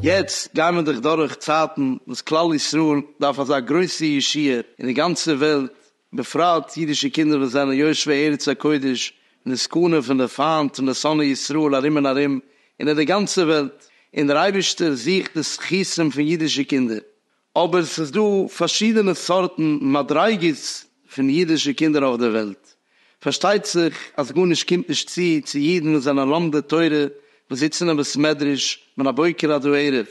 יעצט גייען מיר דאך דורך צייטן וואס כלל ישראל דארף אזא גרויסע ישועה אין די גאנצע וועלט, בפרט אידישע קינדער וואס זענען יושבי ארץ הקודש אין די סכנה פון די פיינט און די שונאי ישראל ארום און ארום אין אט די גאנצע וועלט, און דער אייבערשטער זוכט די זכותים פון אידישע קינדער, אבער ס'איז דא פארשידענע סארטן מדריגות פון אידישע קינדער אויף דער וועלט. פארשטייט זיך אז גארנישט קומט נישט צו צו אידן וואס זענען לומדי תורה וואס זיצן אין בית מדרש מן הבוקר עד הערב,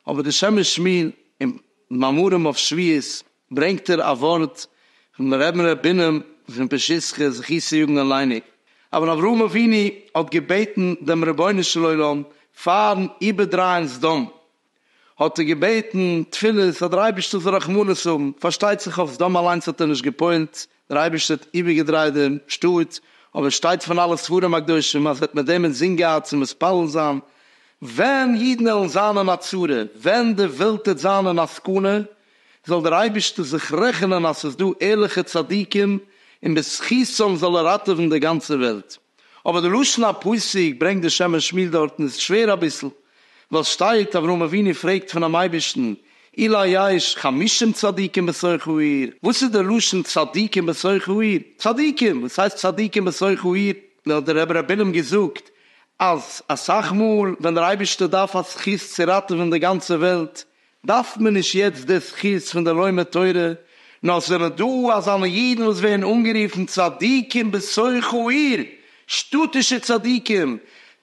אבער די שם משמיר אין מאמרים אויף שביעות ברענגט ער א ווארט פון מרן ר' בינם פון פשיסחא זכותו יגן עלינו, אבן אברהם אבינו האט געבעטן דעם רבונו של עולם פארן איבערדרייען סדום, האט ער געבעטן תפילות אז דער אייבערשטער זאל רחמנות האבן, פארשטייט זיך אויף סדום אליינס האט ער נישט גע'פועל'ט, דער אייבערשטער האט איבערגעדרייט דעם שטאט, אבער עס שטייט פון אלע ספרים הקדושים אז ער האט מיט דעם אינזין געהאט צו מתפלל זיין, ווען אידן עלן זיין אין א צרה, ווען די וועלט טוט זיין אין א סכנה, זאל דער אייבערשטער זיך רעכענען אז ס'איז דא ערליכע צדיקים און בזכותם זאל ער ראטעווען די גאנצע וועלט. אבער די לשון הפסוק ברענגט די שם משמיל דארטן איז שווער אביסל, ווייל שטייט אברהם אבינו פרעגט פונעם אייבערשטן אולי יש חמישים צדיקים בתוך העיר, וואס איז די לשון צדיקים בתוך העיר? צדיקים! וואס הייסט צדיקים בתוך העיר? האט דער רבי ר' בינעם געזאגט אז אסאך מאל ווען דער אייבערשטער דארף א זכות צו ראטעווען די גאנצע וועלט דארף מען נישט יעצט די זכות פון די לומד תורה, נאר זענען דא אזאנע אידן וואס ווערן אנגערופן צדיקים בתוך העיר, שטאטישע צדיקים,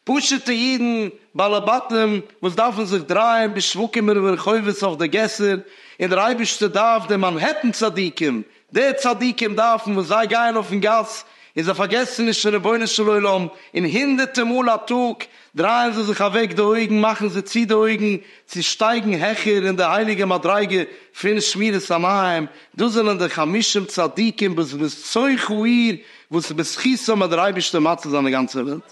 פשוט'ע אידן בעלי בתים וואס דארפן זיך דרייען בשווקים וברחובות אויף די געסער, און דער אייבערשטער דארף די מאנהעטן צדיקים, די צדיקים דארפן וואס זיי גייען אויפן גאס און זיי פארגעסן נישט פון רבונו של עולם, און הונדערטע מאל א טאג דרייען זיי זיך אוועק די אויגן מאכן זיי צו די אויגן צו שטייגן העכער אין די הייליגע מדריגה פון שמירת עניים, דאס זענען די חמישים צדיקים בזכות צויך האיר וואס בזכותם האט דער אייבערשטער מציל זיין די גאנצע וועלט.